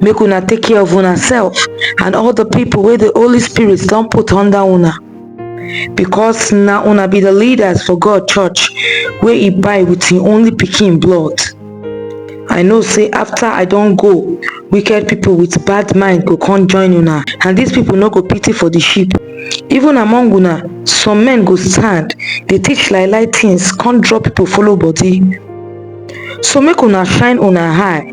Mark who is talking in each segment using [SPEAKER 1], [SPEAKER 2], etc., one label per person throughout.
[SPEAKER 1] make una take care of una self and all the people wey the holy spirit don put under una because na una be the leaders for god church wey e buy with him only pikin blood i know say after i don go wicked people with bad mind go come join una and these people no go pity for the sheep even among una some men go stand dey teach lie lie things come draw people follow body so make una shine una eye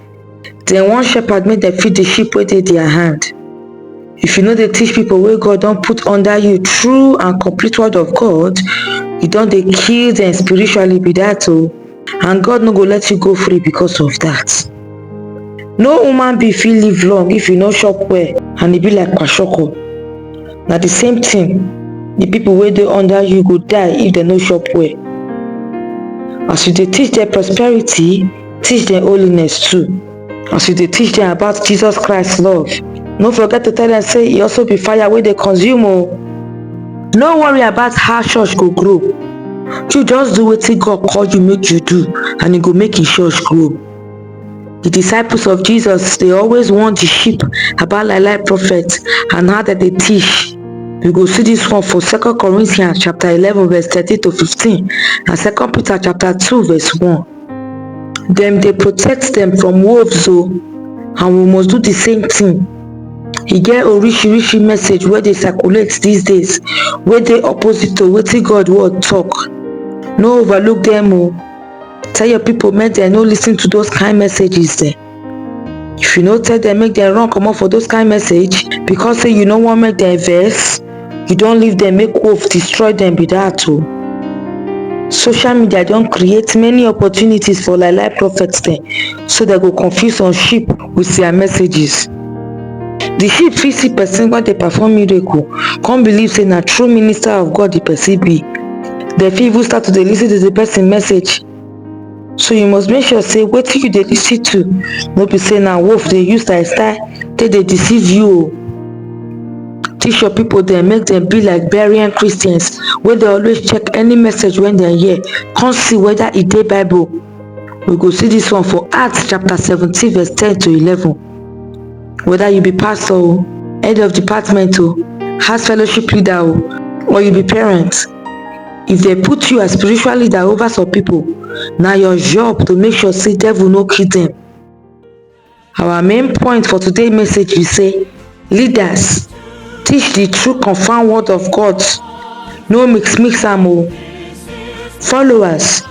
[SPEAKER 1] Dem wan shepherd make dem feed the sheep wey dey their hand. If you no dey teach people wey God don put under you true and complete word of God, you don dey kill them spiritually be that o. Oh. And God no go let you go free because of that. No human being fit live long if you no chop well and e be like kwashiorkor. Na the same thing, the people wey dey under you go die if dem no chop well. As you dey teach them prosperity, Teach them holiness too. As you dey teach them about Jesus Christ love, no forget to tell them say e also be fire wey dey consume o. Oh. No worry about how church go grow. You just do wetin God call you make you do and e go make im church grow. The disciples of Jesus dey always warn the sheep about lie lie prophets and how dem dey teach we go see this one for second corinthians chapter eleven verse thirteen to fifteen and second peter chapter two verse one dem dey protect dem from wolves o and we must do the same thing e get orishirishi message wey dey circulate these days wey dey opposite to wetin God word talk no overlook dem o tell your people make dem no listen to those kind messages dem if you no tell dem make dem run comot for those kind message because say you no wan make dem vex you don leave dem make wolf destroy dem be that o social media don create many opportunities for lie lie prophets dem so dem go confuse some sheep with their messages the sheep fit see person wey dey perform miracle come believe say na true minister of god the person be dem fit even start to dey lis ten to the person message so you must make sure say wetin you dey lis ten to no be say na wolf dey use style style take dey deceive you o teach your people dem make dem be like berean christians wey dey always check any message wey dem hear come see whether e dey bible we go see this one for acts chapter seventeen verse ten to eleven whether you be pastor o head of department o house fellowship leader o or you be parent If dem put you as spiritual leader over some people, na your job to make sure say devil no kill them. Our main point for today message be say leaders teach the true confirmed word of God no mix mix am o. Followers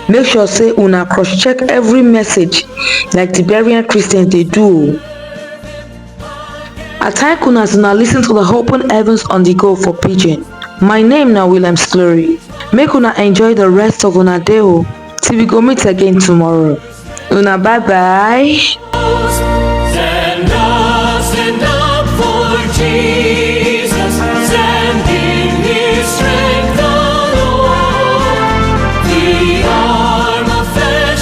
[SPEAKER 1] make sure say una cross check every message like the Berean Christians dey do o. I thank una as una listen to the Open Heavens on the Go for Pidgin. My name na William Slurry. Make una enjoy the rest of una day o till we go meet again tomorrow. Una bye bye. Stand up, stand up for Jesus. Stand in His strength alone. The arm of flesh